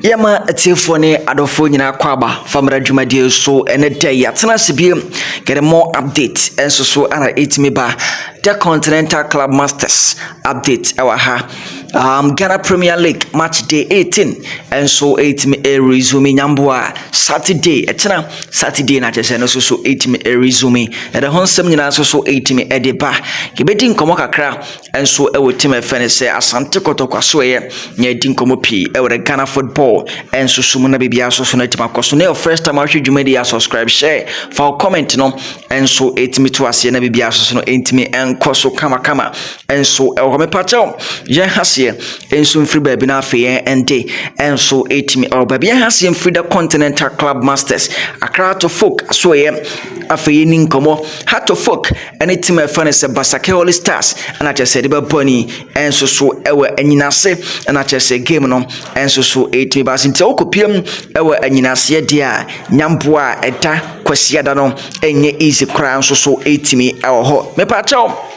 Yɛma atiefoɔ ne adɔfoɔ nyinaa kɔ aba famara dwumadie so ɛnɛ da yi atena ase biem yɛde more update nso so ana ɛtumi ba the continental club masters update ɛwɔ ha um, ghana premier league match day 18 nso ɛtumi ɛresume nyamboa saturday ɛkyena saturday na kyɛ sɛ no so so ɛtumi ɛresume yɛde ho nsɛm nyinaa nso so ɛtumi ɛde ba yɛbɛdi nkɔmmɔ kakra nso wɔ team a yɛfrɛ no sɛ Asante Kɔtɔ Kwasoɛɛ na yɛadi nkɔmmɔ pii wɔ the Ghana football nsoso mu na biribiara nso so no atumi akɔ so na yɛ first time ahwɛ dwumadi yɛ subscribe share fa wo comment no nso ɛtumi to aseɛ na biribiara nso so no ɛntumi nkɔ so kamakama nso ɛwɔ hɔ mepakyɛw yɛn haseɛ nso mfiri baabi no afei yɛn ɛnde nso ɛtumi ɛwɔ baabi yɛn haseɛ mfiri the Continental Club Masters Accra to folk asoɛɛ afei yɛni nkɔmmɔ Hato folk ne tim a ɛfɛ no sɛ Basake Holy Stars na kyerɛ sɛ de bɛbɔ ani nso so wɔ anyinase na kyerɛ sɛ game no nso so ɛtumi ba nti wokɔpiam wɔ anyinaseɛ deɛ a nyamboa a ɛda kwasiada no ɛnyɛ easy koraa nso so ɛtumi wɔ hɔ mepaakyɛw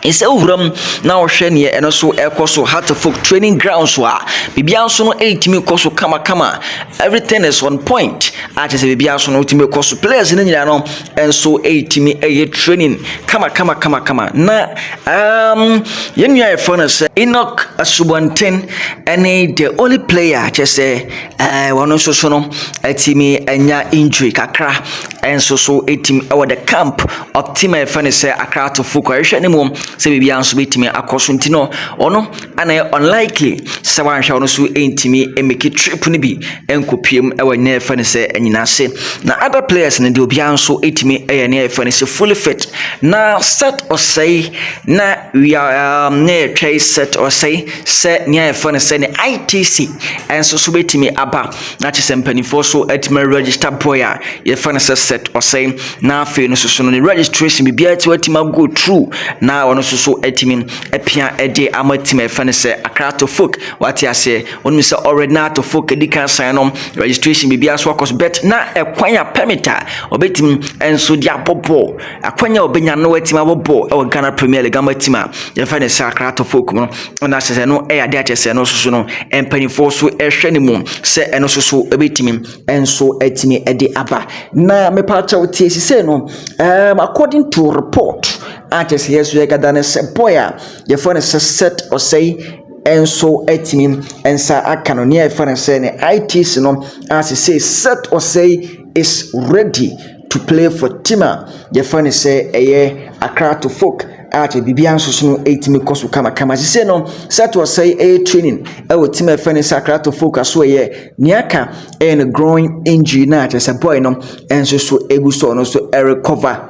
ɛsɛ wuram na wɔhwɛ neɛ ɛno so ɛkɔ so hatfok training ground so a biribiara nso no ɛtumi kɔ so kamakama everything is on point a kyerɛ sɛ biribiara nso no wotumi kɔ so players no nyinaa no nso retumi yɛ training kamakamakamakama na um, yɛn nua yɛfrɛ no sɛ enoch asubɔnten ɛne the only player kyɛ sɛ eh, wɔn nso so no atumi anya injury kakra ɛnso so ɛtumi ɛwɔ the camp of team a yɛfrɛ no sɛ akratofo kɔ ɛhwɛ ne mu sɛ biribiara nso bɛtumi akɔ so nti no ɔno Ana ɛyɛ unlikely sɛ wanhwɛ ɔno so ntumi mmeki trip no bi nkɔpiem wɔ nea yɛfɛ no sɛ anyinase na other players no deɛ obiara nso tumi yɛ nea yɛfɛ no sɛ fully fit na set ɔsɛe na wia um, na yɛtwɛe set ɔsɛe sɛ nea yɛfɛ no sɛ ne ITC nso so bɛtumi aba na kyɛ sɛ mpanimfoɔ so atumi register boy a yɛfɛ no sɛ set ɔsɛe na afei no soso no ne registration biribiara ti watumi ago true na ɔno soso atumi apia de ama team a yɛfrɛ no sɛ Accra to Folk wate aseɛ wɔn sɛ already na to Folk edi kan sign no registration biribi aso akɔ so bet na ɛkwan a permit a ɔbɛtumi nso de abɔ bɔɔl akwan a ɔbɛnya no atumi abɔ bɔɔl ɛwɔ Ghana Premier League ama team a yɛfrɛ no sɛ Accra to Folk no na sɛ sɛ no ɛyɛ adeɛ akyɛ sɛ ɛno soso no mpanimfoɔ so ɛhwɛ ne mu sɛ ɛno soso ɛbɛtumi nso ɛtumi ɛde aba na mepaakyɛw tie sisɛ no um, according to report a kyerɛ sɛ yɛso yɛkada no sɛ boy a yɛfrɛ no sɛ set ɔsɛe nso atumi nsa aka no nea yɛfrɛ no sɛ ne ITC no a sɛ set ɔsɛe is ready to play for team a yɛfrɛ no sɛ ɛyɛ akra to folk a kyerɛ biribiara nso so no ɛtumi kɔ so kamakama sise no set ɔsɛe ɛyɛ training ɛwɔ team a yɛfrɛ no sɛ akra to folk aso ɛyɛ nea aka ɛyɛ no growing injury no a kyerɛ sɛ boy no nso so ɛgu so ɔno nso ɛrecover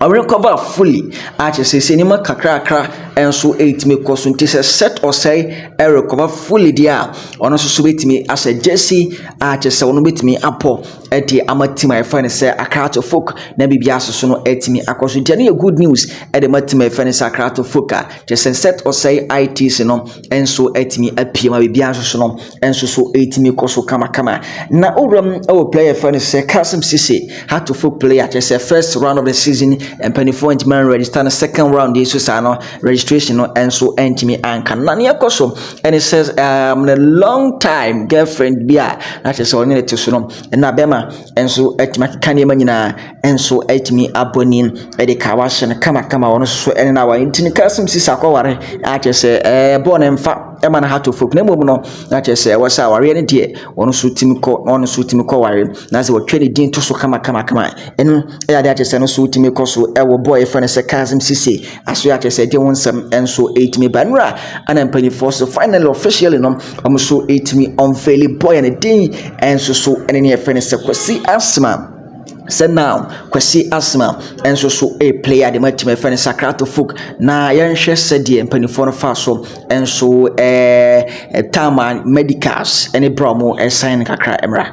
ɔrekɔba fully a kyerɛ sɛ seesei nneɛma kakrakra nso retumi kɔ so nti sɛ set ɔsɛe rekɔba fully deɛ a ɔno nso so bɛtumi ahyɛ gyesi a kyerɛ sɛ ɔno bɛtumi apɔ de ama team a yɛfrɛ no sɛ akrato folk na biribi aso so no atumi akɔ so nti ɛno yɛ good news de ma team a yɛfrɛ no sɛ akrato folk a kyerɛ sɛ set ɔsɛe ITC no nso atumi apue ma biribiara nso so no nso so ɛtumi kɔ so kamakama na owuram wɔ player fɛ no sɛ Kasim Sise hatofo player kyerɛ sɛ first round of the season mpanimfoɔ ntumi anregister no second round yi so saa no registration no nso ntumi anka na neɛ kɔ so ɛne sɛ um, a long time girlfriend bi a na kyerɛ sɛ ɔne ne te so no ɛna bɛma nso atumi akeka nneɛma nyinaa nso atumi abɔ ne mu de kawa ahyɛ no kamakama ɔno nso ne no aware nti no ka sɛ sisi akɔware a kyerɛ sɛ ɛɛ bɔɔ ne mfa ɛma no heart of oak na mmom no na kyerɛ sɛ ɛwɔ sɛ awareɛ no deɛ ɔno nso tumi kɔ na ɔno nso tumi kɔ ware na sɛ wɔtwa ne din to so kamakamakama ɛno ɛyɛ adeɛ akyerɛ sɛ no nso tumi kɔ so ɛwɔ bɔɔ yɛfrɛ no sɛ kasm sisi aso yɛ akyerɛ sɛ ɛde ho nsɛm nso ɛtumi ba nnura ana mpanimfoɔ so finally officially no wɔn nso ɛtumi unveil bɔɔ yɛ no din ɛnso so ɛne ne yɛfrɛ no sɛ kwasi asma sɛ now Kwasi Asmah nso so replay ade ma tumi fɛ no Sakrato folk na yɛnhwɛ sɛdeɛ mpanimfoɔ no fa so nso ɛɛ Tama Medicals ne bra wɔn ɛsan no kakra mmra.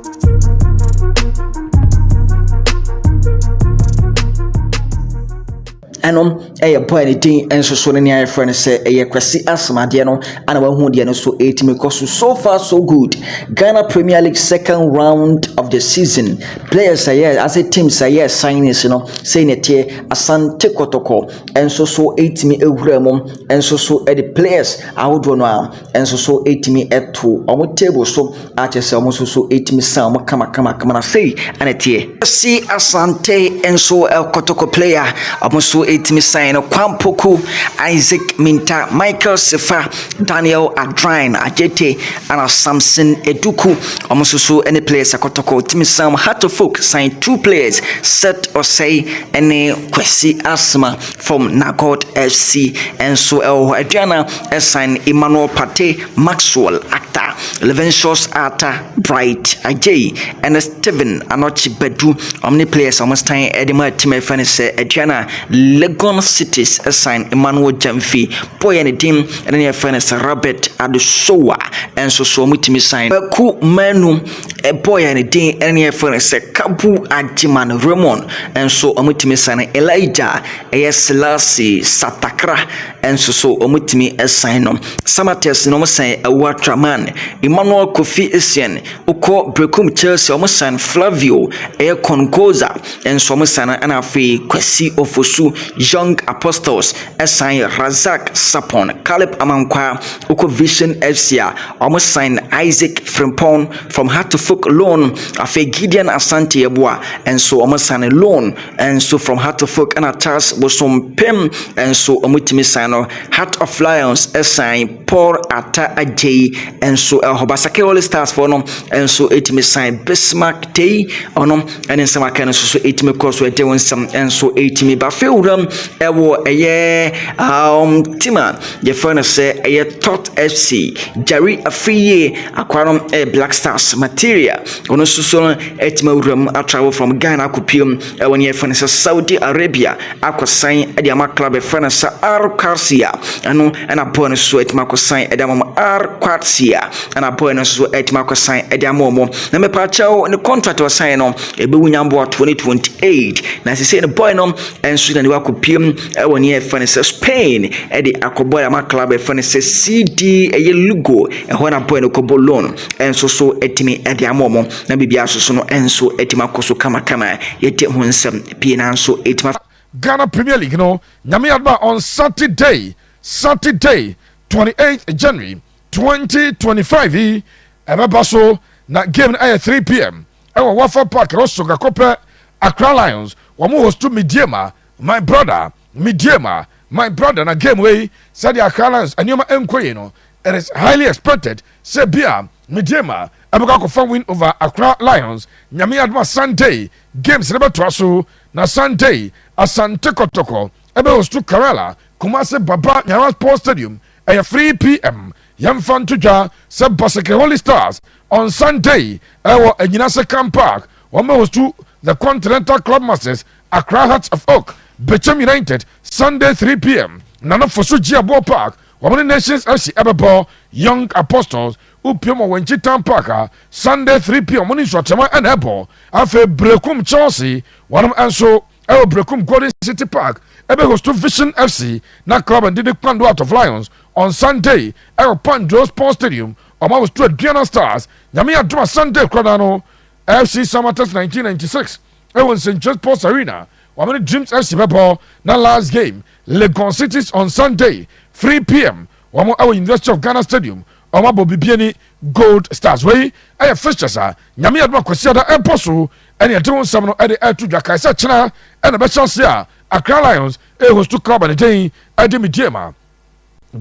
ɛnom ɛyɛ bɔ a ne din nso so ne nea yɛfrɛ no sɛ ɛyɛ kwasi asomadeɛ no ana wahu deɛ no so ɛtumi kɔ so so far so good ghana premier league second round of the season players a yɛ ase teams a yɛ signings no sɛ ne teɛ asante kɔtɔkɔ nso so ɛtumi awura mu nso so ɛde players ahodoɔ no a nso so tumi to wɔn table so a kyerɛ sɛ wɔn nso so tumi san wɔn kamakamakama na sei na ɛteɛ. Kwesi Asante nso kotoko player wɔn nso tumi san no Kwampoku Isaac Minta Michael Sefa Daniel Adrain Ajete ana Samson Eduku wɔn nso so ne players kotoko tumi san Hatofok san two players Seth Osei ne Kwesi Asma fam Nagot FC nso wɔ hɔ. Aduana san Emmanuel Partey, Maxwell Acta, Livingstus Arta, Bright Adjei ne Steven Anokye Badu. Wɔn ne players a wɔsan de maa team a yɛfrɛ no sɛ Aduana Legon Cities san Emmanuel Gyamfi, bɔɔyɛ ne din ne nea yɛfrɛ no sɛ Robert Adesowa nso so wɔtumi san. Kwaku Manu ɛbɔɔ yɛn din ne yɛfrɛ no sɛ Kabu Agyeman Raymond nso wɔtumi san Elijah ɛyɛ Selassie Satakra nso so wɔtumi san no Samatex na wɔsan Awua Traman Emmanuel Kofi Essien wokɔ Brekum Chelsea wɔsan Flavio ɛyɛ Konkoza nso wɔsan ɛna afei Kwesi Ofosu Young Apostles Ɛsan Razak Sarpong, Caleb Amankwah, wokɔ Vision FC a, wɔsan Isaac Frimpong from Hartlefook loan. Afei Gideon Asante Yeboah nso wɔsan loan nso from Hartlefook ɛna Charles Bosompem nso wɔtumi san no. Heart of Lions san Paul Atta Adjei nso wɔ hɔ. Basake All Stars foɔ no nso ɛtumi san Bismarck Tei ɔno ne nsɛm aka no nso so ɛtumi kɔ so ɛde wɔn nsɛm nso ɛtumi ba fɛ wuram ɛwɔ ɛyɛ um, tim a yɛfrɛ no sɛ ɛyɛ Tot FC Jari Afriyie akwaa no ɛyɛ Black Stars Materia ɔno nso so no ɛtumi awuram atravel from Ghana akɔpiem Ɛwɔ nea yɛfrɛ no sɛ Saudi Arabia akɔsan de ama club yɛfrɛ no sɛ Al Qadsiya ɛno ɛna boy no so atumi akɔsan de ama wɔn Al Qadsiya ɛna boy no so atumi akɔsan de ama wɔn na mepaakyɛw ne contract ɔsan no ɛbɛwu nyamboa 2028 na sisei no boy no ɛnso na ne wakɔpiem ɛwɔ nea yɛfrɛ no sɛ Spain ɛde akɔbɔ de ama club yɛfrɛ no sɛ CD ɛyɛ Lugo ɛhɔ na boy no kɔbɔ loan ɛnso so atumi de ama wɔn na biribi asoso no nso atumi akɔ so kamakama. Yɛte ho nsɛm pii nanso ɛtumi afa. Ghana Premier League no, Nyame adom a on Saturday, Saturday, twenty eighth January, twenty twenty five yi, ɛbɛba so na game no ayɛ three pm ɛwɔ Wafa Park, Rossonga kɔpɛ Accra Lions, wɔn hostu Mideama, my brother, Mideama, my brother, na game wei, sɛdeɛ Accra Lions nneɛma nkɔ yie no, it is highly expected sɛ bi a. Medeama ɛbɛkɔ akɔfa win over Accra Lions Nyame adom a Sunday games no bɛtoa so na Sunday Asante Kɔtɔkɔ ɛbɛ hostu Karela Kumasi Baba Nyara Sports Stadium ɛyɛ 3pm Yɛmfa nto dwa sɛ Baseke Holy Stars on Sunday ɛwɔ Anyina Sekan Park wɔn bɛ hostu The Continental Club Masters Accra Hearts of Oak Bechem United Sunday 3pm Nana Fosu Gyeaboɔ Park Wɔn ne Nations Asi ɛbɛbɔ Young Apostles upiom wɔ Wenchi Town Park a Sunday three pm wɔn ne Nsuakyerɛma ɛna ɛbɔ. Afei Berekum Chelsea wɔnom nso ɛwɔ Berekum Golden City Park ɛbɛ hostu Vision FC na Club and Didi Kpando out of Lions on Sunday ɛwɔ Pandro Sports Stadium wɔn ahostu Aduana Stars. Nyame adom a Sunday koradaa no FC Summer Test nineteen ninety six Ɛwɔ nsɛntwerɛ Sports Arena, wɔamene Dreams FC bɛbɔ na last game Legon Cities on Sunday, three pm, wɔn ɛwɔ University of Ghana Stadium, wɔn abɔ Bibiani Gold Stars. Wei ɛyɛ fixtures a Nyame adom a Kwasiada ɛbɔ so ɛne ɛde ho nsɛm no ɛde ɛto dwa. Kae sɛ kyena ɛna ɛbɛhyɛ aseɛ a Accra Lions ɛrehostu club a ne din ɛde Medeama.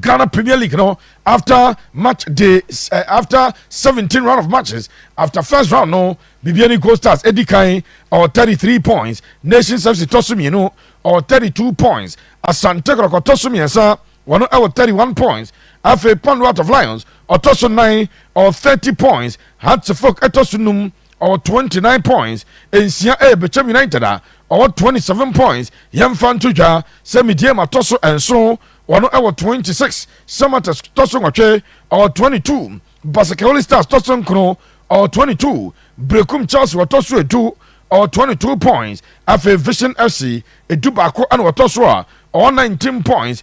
Ghana Premier League no after match day uh, after 17 round of matches after first round no Bibiani Gold Stars edi kan or 33 points Nations FC tɔ so mmienu or 32 points Asante Kɔkɔ tɔ so mmiɛnsa wɔn ɛwɔ 31 points afei Pandu Out of Lions ɔtɔ so nine or 30 points Hearts of Oak ɛtɔ so num ɔwɔ twenty nine points nsia ɛyɛ bɛkyɛm united a ɔwɔ twenty seven points yɛmfa nto dwa sɛ mediam atɔ so nso wɔn ɛwɔ twenty six samatas tɔ so nwɔtwe ɔwɔ twenty two basakawoli stars tɔ so nkono ɔwɔ twenty two brekum chelsea wɔtɔ so edu ɔwɔ twenty two points afei vision fc edu baako ɛna wɔtɔ so a ɔwɔ nineteen points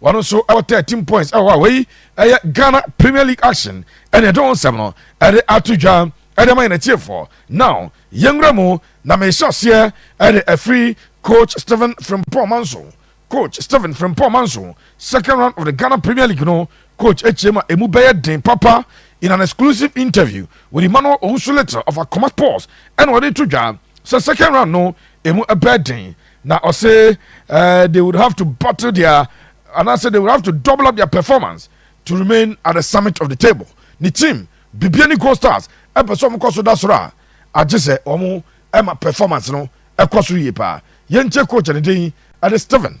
Wɔn nso wɔ thirteen points wɔ hɔ a wei yɛ Ghana Premier League action ɛna yɛde wɔn nsɛm no ɛde ato dwa ɛde ama yɛn atiefoɔ. Now yɛn nwura mu na mehyɛ aseɛ ɛde afiri Coach Stephen Frimpong Manso. Coach Stephen Frimpong Manso, second round of the Ghana Premier League no coach akyia mu a emu bɛyɛ den papa in an exclusive interview with Emmanuel Owusu Little of Akoma Sports ɛna ɔde to dwa sɛ second round no emu ɛbɛɛ den. Na ɔse eh, they would have to bottle their anaasɛ they would have to double up their performance to remain at the summit of the table. Ne team bibia ne Gold Stars ɛpɛ sɛ wɔn kɔ so da soro a, agye sɛ wɔn ɛma performance no ɛkɔ so yie paa. Yɛntie coach a ne din ɛne Steven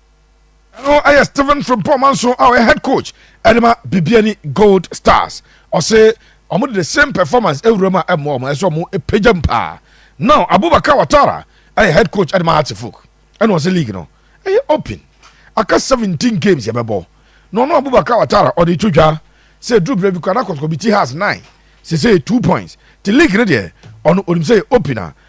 Ɛno yɛ Steven Frimpong Manso a ɔyɛ head coach ɛde ma Bibiani Gold Stars. Ɔse wɔn de the same performance ewura mu a ɛmmoa wɔn ɛsɛ wɔn epagya mu paa. Now Abubakar Watara ɛyɛ head coach ɛde ma Hartefuk ɛna ɔse league no ɛyɛ open. Aka seventeen games yɛbɛbɔ na ɔno Abubakar Watara ɔde to dwa sɛ eduru berɛ bi koraa na kɔtɔkɔbi ti has nine sese yɛ two points te league no deɛ ɔno onim sɛ yɛ open a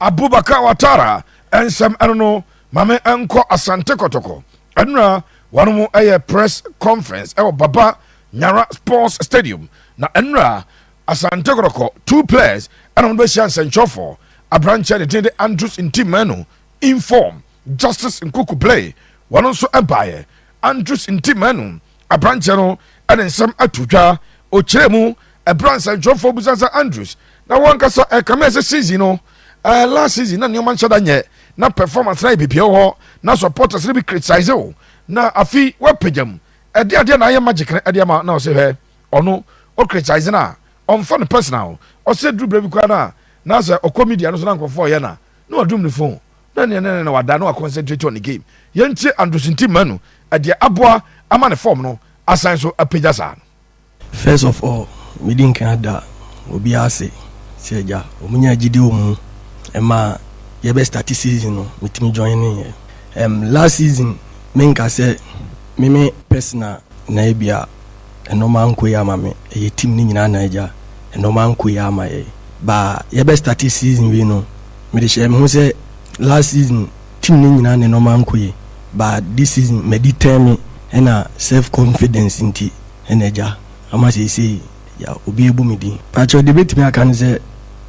Abubakar Watara nsɛm ɛno no ma me nkɔ Asante Kɔtɔkɔ ɛnora wɔnom ɛyɛ press conference ɛwɔ Baba Nyara sports stadium na ɛnora Asante Kɔtɔkɔ two players ɛna wɔn bɛhyia nsɛnkyerɛfoɔ abrankyɛ ne din de Andrews Ntimanu inform Justice Nkuku Blay wɔn nso ɛbaeɛ Andrews Ntimanu aberanteɛ no ne nsɛm ato dwa. Ɔkyerɛɛ mu ɛberɛ a nsɛntwerɛfoɔ bisa sɛ Andrews na wankasa ɛkame ɛsɛ season no uh, last season na nneɛma nhyɛ da nyɛ na performance na yɛ bibia wɔ hɔ na supporters no bi criticize o na afi wapagya mu ɛde adeɛ na ayɛ magic no ɛde ama na ɔsɛ hwɛ ɔno o criticize no a ɔmfa no personal ɔsɛ duru berɛ bi koraa no a na sɛ ɔkɔ media no so na nkurɔfoɔ ɔyɛ na na wadum ne phone Na nea na na wada no aconcentrate on the game. Yɛntie Andrews Ntim Manu deɛ aboa ama ne form no asan so apagya saa no. First of all, medi nkan ada obiara ase sɛ agya wɔn nyaa gyidie wɔ mu ma yɛbɛ starte season no metumi joineeɛ. Ɛm last season menka sɛ meme personal na ebia Nnoɔma ankɔ yie ama me ɛyɛ team no nyinaa na agya nnoɔma ankɔ yie ama yɛn ba yɛbɛ starte season wei no mede hyɛ me ho sɛ last season team no nyinaa na nnoɔma ankɔ yie ba this season madi tɛn me ɛna self confidence nti ɛna agya ama seesei ya obi abu me din. Pakyɛw deɛ mɛtumi aka ne sɛ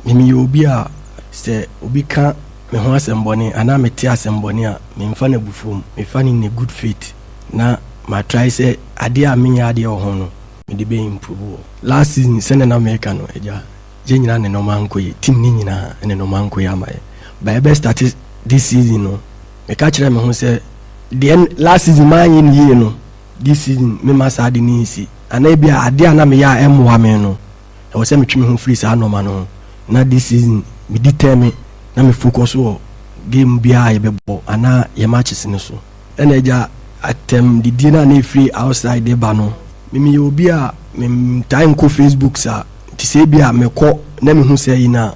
me meyɛ obi a sɛ obi ka me ho asɛm bɔne anaa mete asɛm bɔne a menfa no abufuo mu mefa no in a good faith. Na ma try sɛ adeɛ a menyɛ adeɛ wɔ ho no mede bɛ improve wɔ. Last season sɛnɛ na meka no agya yɛ nyinaa ne nɔɔma ankɔ yie team no nyinaa ne nɔɔma ankɔ yie ama yɛ but yɛbɛ starte this season no meka kyerɛɛ me ho sɛ deɛ last season manyɛ no yie no this season memma saa ade no nsi anaa ebia adeɛ a na meyɛ a ɛmmoa me no ɛwɔ sɛ metwe me ho firi saa nɔɔma no ho na this season me determine na me focus wɔ game biara a yɛbɛbɔ anaa yɛ matches no so. Ɛna agya atɛm didie no a na ɛfiri outside de ba no me meyɛ obi a mentaa nkɔ Facebook saa nti sɛ bi a mekɔ na mehu saa yi no a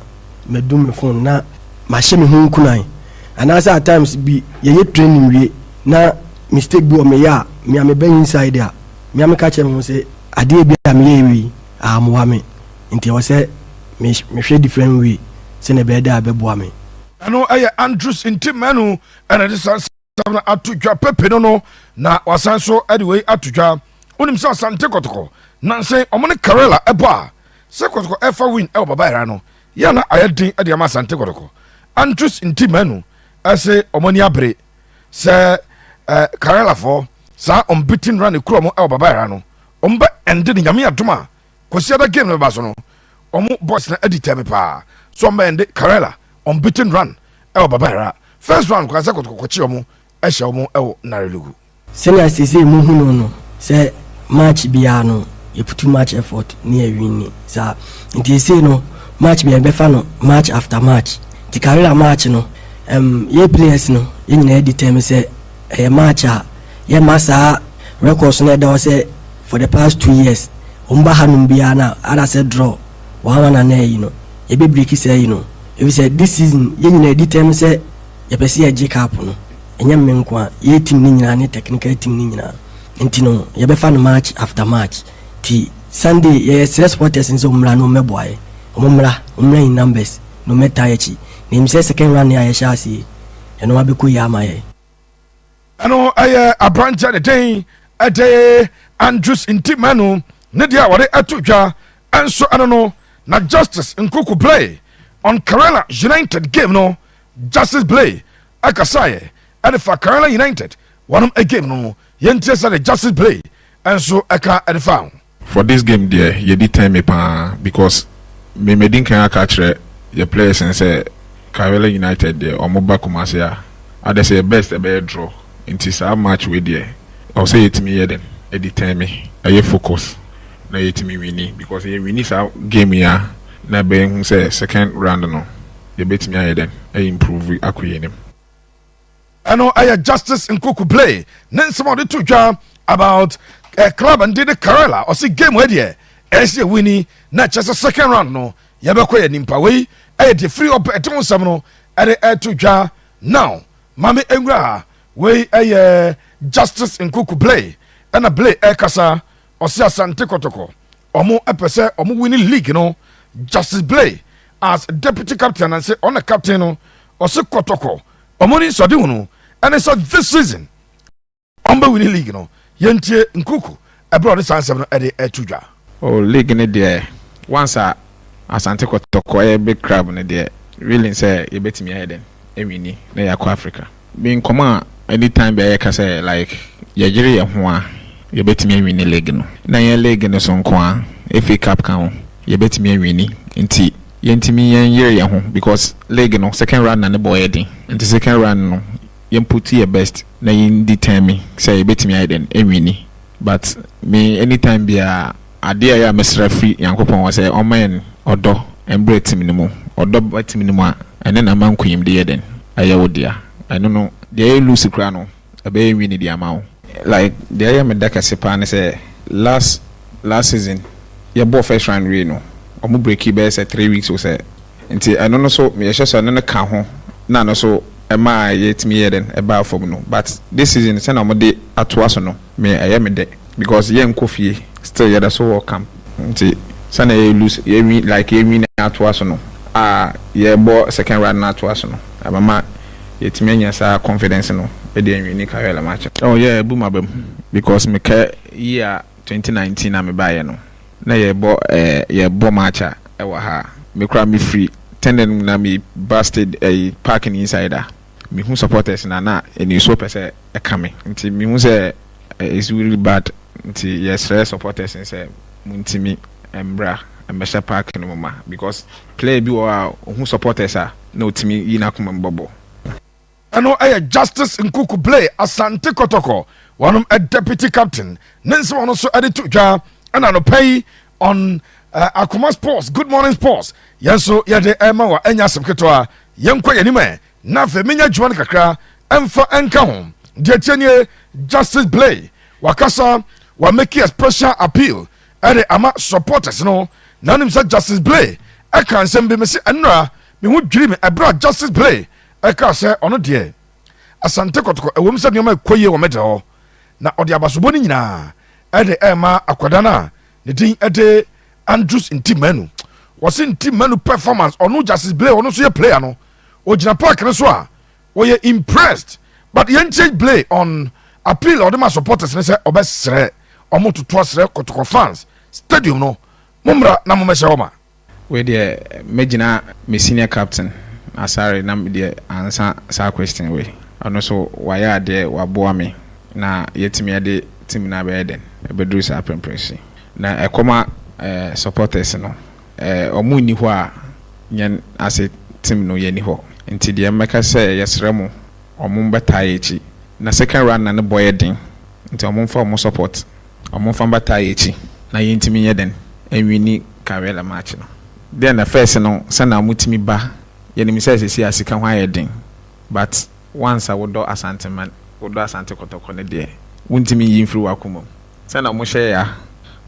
madum me phone na mahyɛ me ho nkunan anaasɛ at times bi yɛyɛ training wie na mistake bi wɔ meyɛ a me a meba inside a me a meka kyerɛ me ho sɛ adeɛ bi a meyɛ wei a mmoa me nti ɛwɔ sɛ mehwɛ different way sɛnea ɛbɛyɛ dɛ a ɛbɛboa me. Ɛno yɛ Andrews Ntimmanu ɛna de saa nsɛm no ato dwa pepe no no na wasan so de wei ato dwa wonim sɛ asante kɔtɔkɔ nanse ɔmo ne karela ɛbɔ a sɛ kɔtɔkɔ ɛfa win ɛwɔ baba ɛra no yɛ na ayɛ den de ama asante kɔtɔkɔ antus nti manu ɛse ɔmo ani abere sɛ eh, karela fɔ saa ɔmbitin run ekuro ɔmo ɛwɔ baba ɛra no ɔmo bɛ ɛnde ne nyame adom a Kwasiada game no bɛba so no, wɔn boys no adi tɛɛ me paa sɛ wɔn bɛyɛ nde Karela unbeaten run ɛwɔ Baba Yara. First round koraa sɛ Kotoko kɔkye wɔn hyɛ wɔn ɛwɔ Narelugu. Sɛnea seesei mohu no no, sɛ match biara no yɛputu match effort na yɛ winni saa nti seesei no match biara yɛbɛfa no match after match nti Karela match no, ɛmm yɛ players no yɛn nyinaa adi tɛɛ me sɛ Ɛyɛ match a yɛmma saa records no a ɛda hɔ sɛ for the past two years wɔn ba hanom biara no a ada sɛ draw one one anaa ayi no yɛbɛ break saa ayi no efisɛ this season yɛn nyinaa yɛdi tɛm sɛ yɛpɛ sɛ yɛgye cup no ɛnyɛ me nko a yɛyɛ team no nyinaa ne technical team no nyinaa nti no yɛbɛfa no match after match nti Sunday yɛsrɛ supporters no sɛ wɔmmra na wɔmmɛboa yɛn wɔmmra wɔmmra in numbers na wɔmmɛtaa yɛn akyi na yɛnim sɛ second round no a yɛhyɛ aseɛ Ɛno ara bɛkɔ yie ama yɛn. Ɛno ɛyɛ aberanteɛ ne den ɛde Andrews Ntimanu ne deɛ a wɔde ɛto dwa ɛnso ɛno no na Justice Nkuku Blay on Karela United game no Justice Blay ɛkasaeɛ ɛde fa Karela United wɔnom game no yɛntie sɛdeɛ Justice Blay ɛnso ɛka ɛde fa ho. For this game deɛ yɛdi tɛn me paa because me madi nkan aka akyerɛ yɛ players no sɛ Kayole United deɛ ɔmo ba Kumasi a adɛ sɛ yɛ best ɛbɛyɛ draw nti saa match wei deɛ ɛwɔ sɛ yɛtumi yɛ dɛn ɛdi tɛn me ɛyɛ focus na yɛtumi winni because yɛ winni saa game yi a na ɛbɛyɛ hu sɛ second round no yɛbɛtumi ayɛ dɛn a improve akɔ yɛn anim. Ɛno yɛ Justice Nkuku Blay ne nsɛm a ɔde to dwa about eh, club and the Karela ɔsi game wɔ deɛ ɛsi ewu ni na ɛkyɛ sɛ second round no yɛbɛkɔ yɛ nimpa wei ɛyɛ deɛ firi ɔpɛ ɛte ho nsɛm no ɛde ɛto dwa now maame nwura ha wei ɛyɛ Justice Nkuku Blay ɛna Blay ɛkasa ɔsi asante kɔtɔkɔ Ɔmo pɛ sɛ ɔmo wini league no. Justice Blay as deputy captain ananse ɔna captain no ɔse kɔtɔkɔ ɔmo ni nsɔde hunu ɛne sɛ this season ɔmo bɛ wini league no yɛntie Nkuku ɛbrɛ ɔde saa nsɛm no ɛde ɛto dwa. Oh league no deɛ once a Asante kɔtɔkɔ ɛyɛ big crab no deɛ willing sɛ yɛbɛtumi ayɛ dɛn. awi ni na yɛakɔ Africa. Bi nkɔmmɔ a anytime biara yɛka sɛ like yɛyere yɛn ho a yɛbɛtumi awini league no. Na ɛnyɛ league no so nko ara, FA Cup ka ho, yɛbɛtumi awini nti yɛntumi yɛnyere yɛn ho because league no second round na ne bɔ yɛ den nti second round no yɛn put yɛn best na yɛn determine sɛ yɛbɛtumi ayɛ dɛn awini but me anytime biara Adeɛ a ɛyɛ a mesrɛ firi Nyankopɔn hɔ sɛ ɔmma yɛn ɔdɔ mbrɛ tim no mu. Ɔdɔ ba tim no mu a, ɛno na ama nkunyimdi yɛ dɛn? Ɛyɛ wo dea. Ɛno no, deɛ ɛyɛ loose koraa no, ɛbɛyɛ nwini de ama wo. Like, deɛ ɛyɛ me dɛ kɛse paa ne sɛ last last season yɛbɔɔ first round wiei no, wɔn breakii bɛyɛ sɛ three weeks o sɛ. Nti ɛno no so yɛhyɛ sɛ ɛno no ka ho na ɛno so ɛmaa yɛtumi yɛɛ dɛn? Ɛbaa fam no. But this season sɛdeɛ wɔde atoa so no, Me ɛyɛ me dɛ because yɛ nkɔ fie still yɛda so wɔ camp nti sɛnea yɛ loose yɛ nwi like yɛ nwi na atoa so no a yɛ bɔ second run no atoa so no ɛbɛma yɛ tumi anya saa confidence no de anwi ne career la match no. Oh yeah ɛbu maba mu because me ka year twenty nineteen a me baa yɛ no na yɛ bɔ eh yɛ bɔ match a ɛwɔ ha me koraa me firi tɛnɛn mu na me ba state ɛyi park no inside a. Mehu supporters no a na anisuo pɛ sɛ ɛka me nti mehu sɛ it's really bad nti yɛsrɛ supporters no sɛ montumi mmra mmɛhyɛ park no mu ma because player bi wɔ hɔ a ɔhu supporters a na ɔtumi yi n'akoma mu bɔbɔ. Ɛno yɛ Justice Nkuku Blay Asante Kɔtɔkɔ, wɔnom deputy captain, ne nsɛm a ɔno nso de to dwa na anɔpa yi on uh, akoma sports good morning sports yɛn nso yɛde ɛma wa ɛnyɛ asɛm ketewa yɛnkɔ yɛn anim ɛ na afei menya adwuma no kakra ɛmfa ɛnka ho deɛ tie nie justice blay wakasa wa make a special appeal ɛde ama supporters no na nim sɛ justice blay ɛka nsɛm bi me se ɛnora me ho dwiri me ɛberɛ a justice blay ɛka sɛ ɔno deɛ Asante Kɔtɔkɔ, ɛwom sɛ nneɛma rekɔ yie wɔ me da hɔ, na ɔde abasobɔ no nyinaa de rema akwadaa no a ne din de Andrews Ntimanu. Wɔse Ntimanu performance, ɔno Justice Blay, ɔno nso yɛ player no, ɔgyina park no so a, wɔyɛ impressed. But yɛntie Blay on appeal a ɔde ma supporters no sɛ ɔbɛsrɛ wɔn totoa srɛ Kɔtɔkɔ fans, stadium no, mommra na mommɛhyɛ hɔ ma. Wei deɛ mɛgyina me senior captain Asare na me deɛ ansa saa question wei. Ɔno nso wayɛ adeɛ waboa me na yɛatumi ɛde team no abɛyɛ dɛn ɛbɛduru saa prɛmprɛso yi. Na ɛkɔma supporters no wɔn nni hɔ a yɛn ase team no yɛnni hɔ. Nti deɛ mɛka sɛ yɛsrɛ mo wɔn mmɛtaa yɛn akyi na second runner no bɔ yɛ den nti wɔn mfa wɔn support. Wɔmfa bataa yɛ akyi na yɛntumi nyɛ dɛn ɛnwini Karela match no. Dɛn na first no sɛnea wɔtumi ba yɛnim sɛ seesei a sika ho ayɛ den but once a wodɔ Asanteman wodɔ Asante Kɔtɔkɔ no deɛ wontumi nyi mfiri w'akoma mu sɛnea wɔhyɛ yɛ a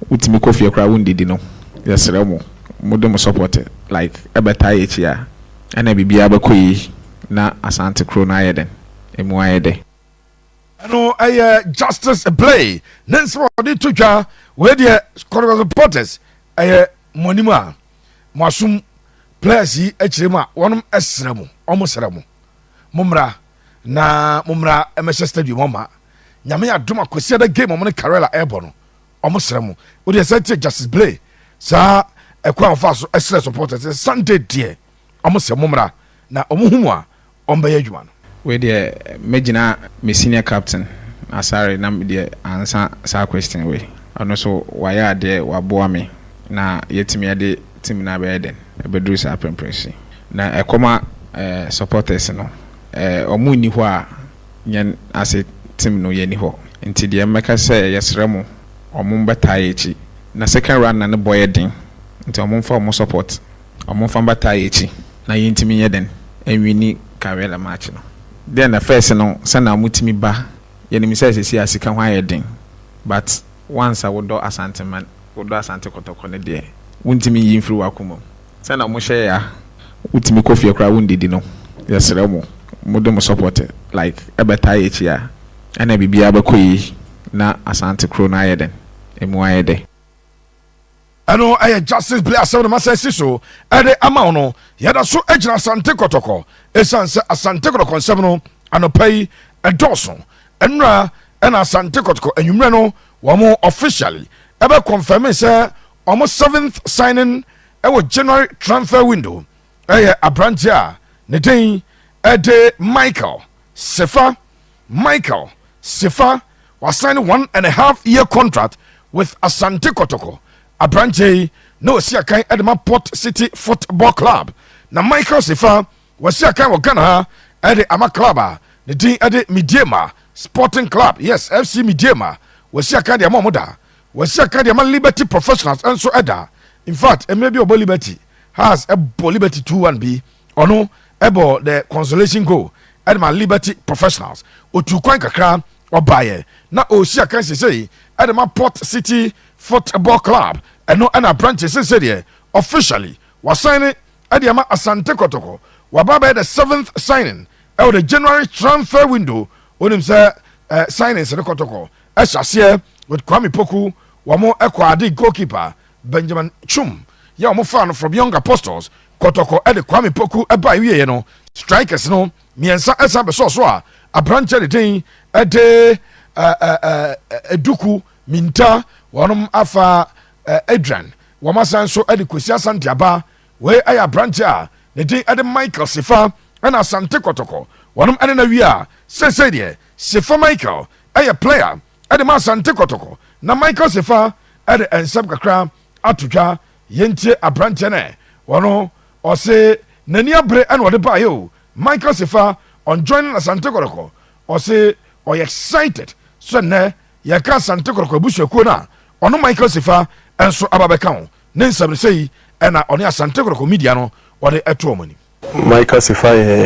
wotumi kɔ fie koraa wondidi no yɛsrɛ mo mode mo support like ɛbɛtaa yɛ akyi a ɛna biribiara bɛkɔ yie na Asante kuro no ayɛ dɛn ɛmu ayɛ dɛ. Ɛno ɛyɛ Justice Blay ne nsɛm a ɔde to dwa wei deɛ Kɔtɔkɔ supporters ɛyɛ mo anim a mo asom players yi akyire mu a wɔn ɛsrɛ mo wɔn srɛ mo mo mmra na mo mmra ɛmɛhyɛ stadium ɔma nyame adom akwasiada game wɔn ne Karela ɛbɔ no wɔn srɛ mo o deɛ sɛ tie Justice Blay saa ɛkwan ɔfa so ɛsrɛ supporters Sunday deɛ. Ɔmo sɛ mommra na ɔmo hu mo a ɔmo bɛyɛ adwuma no. Wei deɛ mɛgyina me senior captain Asare na me deɛ ansa saa question wei. Ɔno nso wayɛ adeɛ waboa me na yɛatumi de team no abɛyɛ dɛn abɛduru saa prɛmprɛ so yi. Na ɛkɔma supporters no ɔmo nni hɔ a yɛn ase team no yɛnni hɔ nti deɛ mɛka sɛ yɛsrɛ mo ɔmo mmɛtaa yɛn akyi na second run na ne bɔ yɛ den nti ɔmo mfa ɔmo support. Wɔmfa mbata yɛ ekyi na yentumi nyɛ dɛn enwini Karela match no. Dɛ na first no sɛ na wɔtumi ba, yɛnim sɛ sesei a sika ho ayɛ den but once a wodɔ Asanteman, wodɔ Asante Kɔtɔkɔ no deɛ wontumi nyi mfiri w'akoma mu. Sɛ na wɔhyɛ yɛ a wotumi kɔ fie koraa wondidi no, yɛsrɛ mo mode mo support like bɛtaa yɛ ekyi a ɛna biribiara bɛkɔ yie na Asante kuro no ayɛ dɛn? Emu ayɛ dɛ. Ɛno yɛ Justice Bere asɛm no masan asi so de ama wo no. Yɛda so gyina Asante Kɔtɔkɔ esiane sɛ Asante Kɔtɔkɔ nsɛm no anɔpa yi ɛdɔɔso. Nnora na Asante Kɔtɔkɔ anwummerɛ no wɔn officially ɛbɛ confirmee sɛ wɔn seventh signing wɔ January transfer window yɛ aberanteɛ a ne din de Michael Sefa. Michael Sifa wasan ne one and a half year contract with Asante Kotoko. Aberanteɛ yi na ɔsi akan de ma Port City Football Club. Na Michael Sifa wasi akan wɔ Ghana ha de ama club a ne din de Medeama Sporting Club, yes, FC Medeama. Wasi akan de ama wɔn da. Wasi akan de ama Liberty Professionals nso da. In fact, mmerɛ bi ɔbɔ Liberty, Hearts bɔ Liberty 2-1 bi. Ɔno bɔɔ the consolation goal de maa Liberty Professionals. Otuu kwan kakra, ɔbaeɛ na ɔresi akan seesei de ma Port City Football Club. Ɛno na aberanteɛ seesei deɛ officially wasan ne de ama Asante Kotoko. Waba abɛyɛ the seventh signing wɔ the January transfer window. Wonim sɛ signings no Kotoko hyɛ aseɛ with Kwame Poku, wɔn Kwadi goalkeeper Benjamin Chum yɛ a wɔfaa no from Young Apostles, Kɔtɔkɔ de Kwame Poku bae wieɛ no, Strikers no mmiɛnsa san bɛsɔɔ so a aberanteɛ de den de Aduku Minta, wɔnom afa Adrian, wɔn asan nso de Kwesi Asante aba. Wei ayɛ aberanteɛ a ne den de Michael Sefa ɛna Asante Kɔtɔkɔ, wɔnom ɛne no awie a seesei deɛ Sefa Michael ɛyɛ player. de ma Asante Kɔtɔkɔ na Michael Sefaa de nsɛm kakra ato dwa. Yɛntie aberanteɛ no ɛ. Ɔno ɔse n'ani abere na ɔde baeɛ o. Michael Sefaa on joining Asante Kɔtɔkɔ. Ɔse ɔyɛ excited sɛ nnɛ yɛka Asante Kɔtɔkɔ abusuakuo no a, ɔno Michael Sefaa nso aba bɛka ho. Ne nsɛm no sei na ɔne Asante Kɔtɔkɔ Media no ɔde to wɔn anim. Micah Sifah yɛ,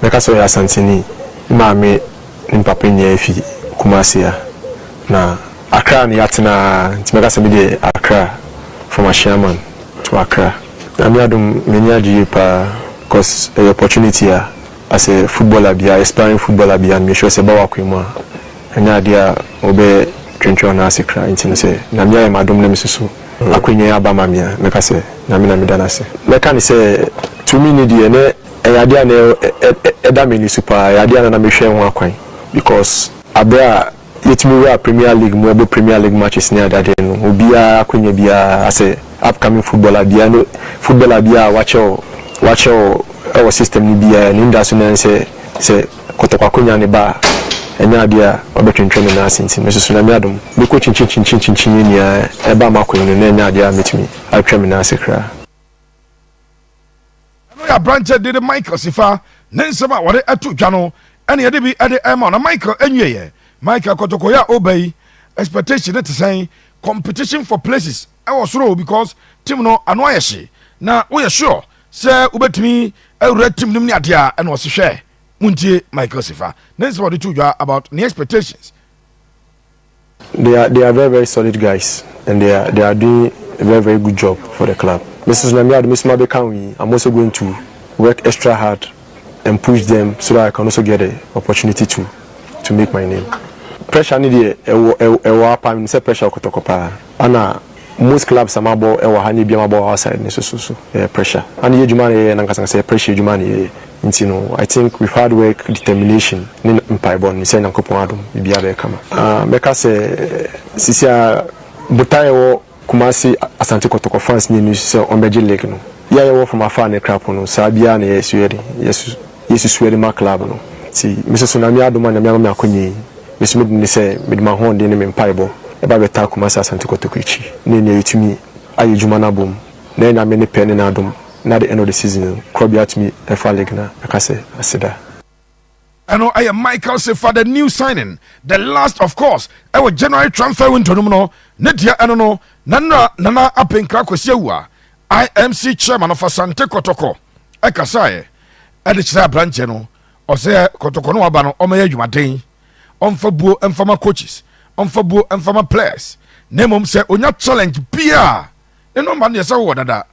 mɛka sɛ ɔyɛ Asanteni. Ne maame ne me papa nyinaa fi Kumasi a na Accra na yɛatena ara nti mɛka sɛ me deɛ Accra from Ashaiman to Accra. Nyame adom m'ani agye yie paa cos ɛyɛ opportunity a as a footballer biaa, aspiring footballer biaa me sure sɛ ɛba w'akwan mu a Ɛnyɛ adeɛ a wobɛyɛ twentwɛn no ase kra nti no sɛ Nyame ayɛ m'adom na mesusu akwanya yi aba ma me a, mɛka sɛ Nyame na meda no ase. Mɛka no sɛ tumi no deɛ na ɛyɛ adeɛ a na ɛda m'ani so paa, ɛyɛ adeɛ a na na mehwɛ ho akwan because aberɛ a yɛtumi wura Premier League mu ɛbɔ Premier League matches ne adeadeɛ no obiara akwanya biara asɛ upcoming footballer biara ne footballer biara a wakyɛ wɔ wakyɛ wɔ ɛwɔ system no biara no anidaso no ara ne sɛ sɛ kɔtɔkwako nya ne ba a, ɛnyɛ adeɛ a ɔbɛtwentwɛn ne nan ase nti, mesusu Nyame adom, mɛkɔ kyinkyinkyinkyinkyin yi nea ɛba m'akwan no na ɛnyɛ adeɛ a mɛtumi atwa me nan ase koraa. Ɛno yɛ aberanteɛ de de Michael Sifa ne nsɛm a wɔde to dwa no ɛna yɛde bi de rema wo na Michael ɛnwieɛ. Michael kɔtɔkɔeɛ a ɔreba yi expectation no te sɛn? Competition for places. Ɛwɔ soro because team no ano ayɛ hye na woyɛ sure sɛ wobɛtumi awura team no mu ne adeɛ a ɛna ɔse hwɛ montie Michael Sefa ne nsɛm a ɔde too dwa about ne expectations. They are they are very very solid guys and they are they are doing a very very good job for the club. Me nso so Nyame adom me nso mabɛka ho yi, I'm also going to work extra hard and push them so that I can also get a opportunity to to make my name. Pressure ne deɛ ɛwɔ ɛwɔ ha paa, menim sɛ pressure wɔ Kɔtɔkɔ paa. Ɛna most clubs a mabɔ ɛwɔ ha ne ebi a mabɔ outside ne so so so ɛyɛ pressure. Ɛna yɛ adwuma a yɛyɛ no ankasa ankasa yɛ pressure adwuma na yɛyɛ. Nti no I think with hard work, determination ne mpaebɔ no menim sɛ Nyankopɔn adom biribiara bɛyɛ kama. Ah, mɛka sɛ sisi a botae a ɛwɔ Kumasi Asante Kɔtɔkɔ fans nyɛ nusu sɛ wɔn bɛgye lig no. Yɛ a yɛwɔ fam afaa ne krapo no saa biaa na yɛ suɛ de yɛ su yɛ susuɛ de ma club no. Nti me soso Name adom a Name ama me akonya yi me so me de ne sɛ me de m'ahoɔden ne me mpaebɔ ɛba bɛ taa Kumasi Asante Kɔtɔkɔ akyi ne nea yɛ tumi ayɛ adwuma no abom na yɛ Name ne pɛ ne n'adom na the end of the season no korɔbea tumi ɛfa lig no a mɛka sɛ aseda. Ɛno yɛ Michael se fa the new signing, the last of course wɔ January transfer window no mu no, ne deɛ ɛno no na nnora Nana Apenkra Kwasi Awuah, IMC chairman of Asante Kɔtɔkɔ kasaeɛ de kyerɛɛ aberanteɛ no, ɔsɛ Kɔtɔkɔ no aba no ɔmɛyɛ adwumaden, ɔmfa buo mfama coaches, ɔmfa buo mfama players, na mmom sɛ ɔnya challenge biara ne number no deɛ sɛ wowɔ dada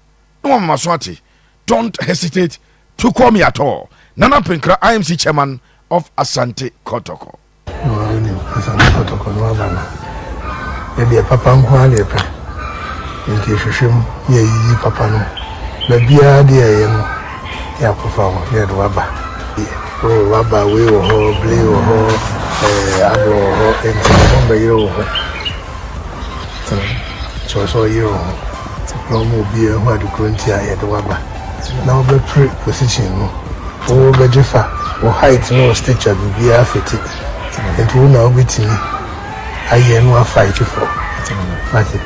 na wama maso ate, Don't hesitate to call me at all Nana Penkra IMC chairman of Asante Kotoko. Wɔnim Asante Kotoko no aba no yɛdeɛ papa nko ara na yɛpɛ nti yɛhwehwɛ mu na yɛyiyi papa no baabiara deɛ ɛyɛ no yɛ akɔfa ho na yɛde waba oh, waba wei wɔ hɔ blee wɔ hɔ eh, aborɔ wɔ hɔ nti ɛho mbɛyerɛ wɔ hɔ Kyerɛ sɛ ɔyere wo ho na ɔma obiara hu ade koro nti a yɛde wo aba na wobɛpere position no. Wo bɛgye fa, wo height ne wo stature biribiara fiti nti wo na wobɛtumi ayɛ na woafight for wate.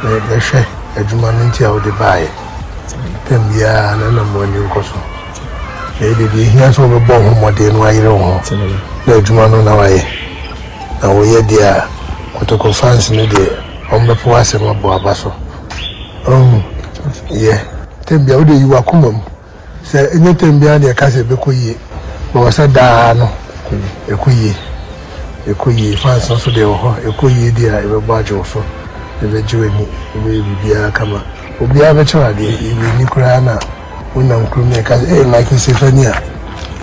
Bɛhwɛ adwuma no nti a wode baeɛ tam biara na nam w'ani nkɔ so na ɛyɛ deɛ ɛhia sɛ wobɛbɔ wo ho mmɔden na woayere wo ho na adwuma no na woayɛ. Na woyɛ deɛ a kotoko fans no deɛ wɔn bɛpo w'asɛm abɔ aba so ohu yɛ. Tɛm biara wode yi wakoma mu sɛ ɛnyɛ tɛm biara na yɛka sɛ ɛbɛkɔ yie but wɔ sɛ daa no ɛkɔ yie ɛkɔ yie fans no nso deɛ wɔ hɔ ɛkɔ yie deɛ a yɛbɛbɔ agye wo so yɛbɛgye w'ani yɛbɛyɛ biribiara kama obiara bɛkyɛ wo adeɛ yɛwɔ ani koraa na Wonam kurom na ɛka sɛ, ee Michael Sefania,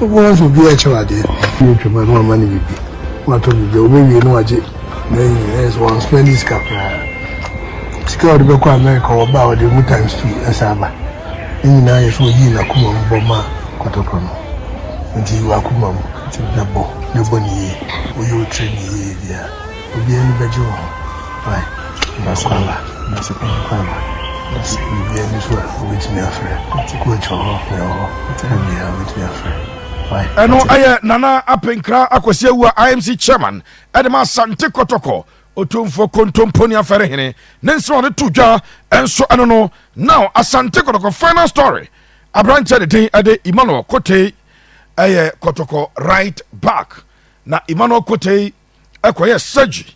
wobɛhu sɛ obiara kyɛ w'adeɛ. Obi atwam a na wama no biribi, na watɔ biribi a obewie na wagye n'ayi no, ɛyɛ sɛ wɔnspendi sika koraa. Sika a ɔde bɛkɔ Amerika, wɔba a ɔde emu times two ɛsan ba. Ne nyinaa yɛ sɛ oyii n'akoma mu bɔ maa kɔtɔkɔ no. Nti yi w'akoma mu, nti bɛbɔ na bɔ no yie, woyɛ wo training yie wie a. Obi ani bɛgye wɔ ho ae. Dase papa dase papa papa dase. Obi ani so a obetumi afrɛ. Coach wɔ hɔ me wɔ hɔ obiara obetumi afrɛ. Ɛno ɛyɛ Nana Apenkra Akwasi Awua IMC Chairman ɛde ma Asante Kɔtɔkɔ Otumfoɔ Kontomponi Afɛrehene ne nsɛm a ɔde to dwa nso ɛno no Now Asante Kɔtɔkɔ Final Story Aberanteɛ ne din ɛde Emmanuel Kotei ɛyɛ Kɔtɔkɔ Right Back na Emmanuel Kotei ɛkɔyɛ surgery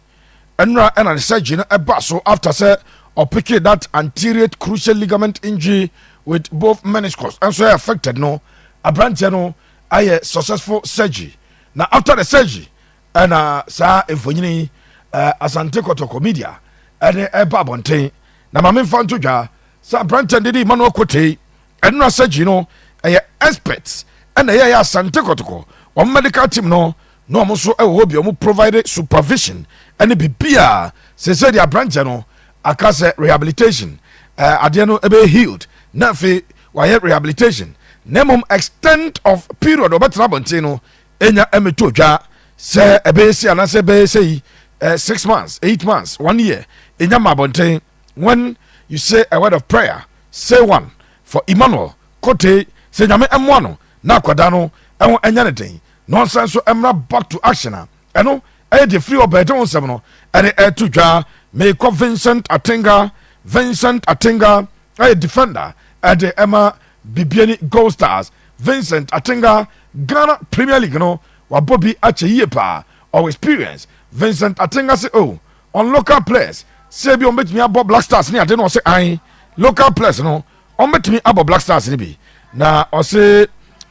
ɛnora ɛna ne surgery no ɛba so after sɛ ɔpeke that anterior cruciate ligament injury with both meniscus ɛnso ɛyɛ affected no aberanteɛ no ayɛ successful surgery na after the surgery ɛna saa mfonyini uh, asante kɔtɔkɔ media ɛne ɛba abɔnten na maame nfa nto dwa sɛ aberanteɛ no de di emmanuel kotei Ɛno asɛgyi no ɛyɛ experts ɛna ɛyɛ asante kɔtɔkɔ wɔn medical team no na wɔn nso ɛwɔ hɔ bi wɔn provide supervision ɛne bibia sese deɛ aberanteɛ no aka sɛ rehabilitation ɛɛ adeɛ no ɛbɛyɛ healed na afei wayɛ rehabilitation na mmom extent of period ɔbɛtena abɔnten no enya ɛmɛtɔ dwa sɛ ɛbɛyɛ si anaasɛ ɛbɛyɛ sɛ yi ɛɛ six months eight months one year enya ma abɔnten. When you say a word of prayer, say one for Emmanuel Kotey sɛ Nyame mmoa no na akwadaa no ho nyɛ no den na ɔnsan nso mmra back to action a, ɛno ɛyɛ deɛ firi ɔbaa agya ho nsɛm no ɛde ɛreto dwa. Meekɔ Vincent Atenga, Vincent Atenga ɛyɛ defender ɛde ɛma Bibiani Gold Stars. Vincent Atenga, Ghana Premier League no wabɔ bi akyɛ yie paa, ɔwɔ experience. Vincent Atenga se oh, on local players sɛ ebi wɔn bɛtumi abɔ black stars ne ade no ɔsɛ an local players no wɔn bɛtumi abɔ black stars no bi na ɔsɛ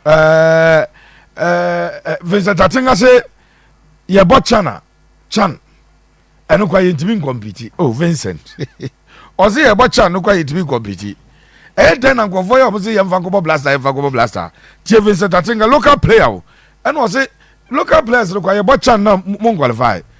ɛɛ ɛɛ vincent atenga sɛ yɛbɔ chan a chan ɛno kora yɛntumi nkɔmpiti o oh, vincent ɔsɛ yɛbɔ chan no kora yɛntumi nkɔmpiti ɛyɛ dɛn na nkurɔfoɔ yɛ wɔn sɛ yɛmfa nkɔbɔ blaster yɛmfa nkɔbɔ blaster tie vincent atenga local player o ɛna ɔsɛ local players no kora yɛbɔ chan na mo nkwalifai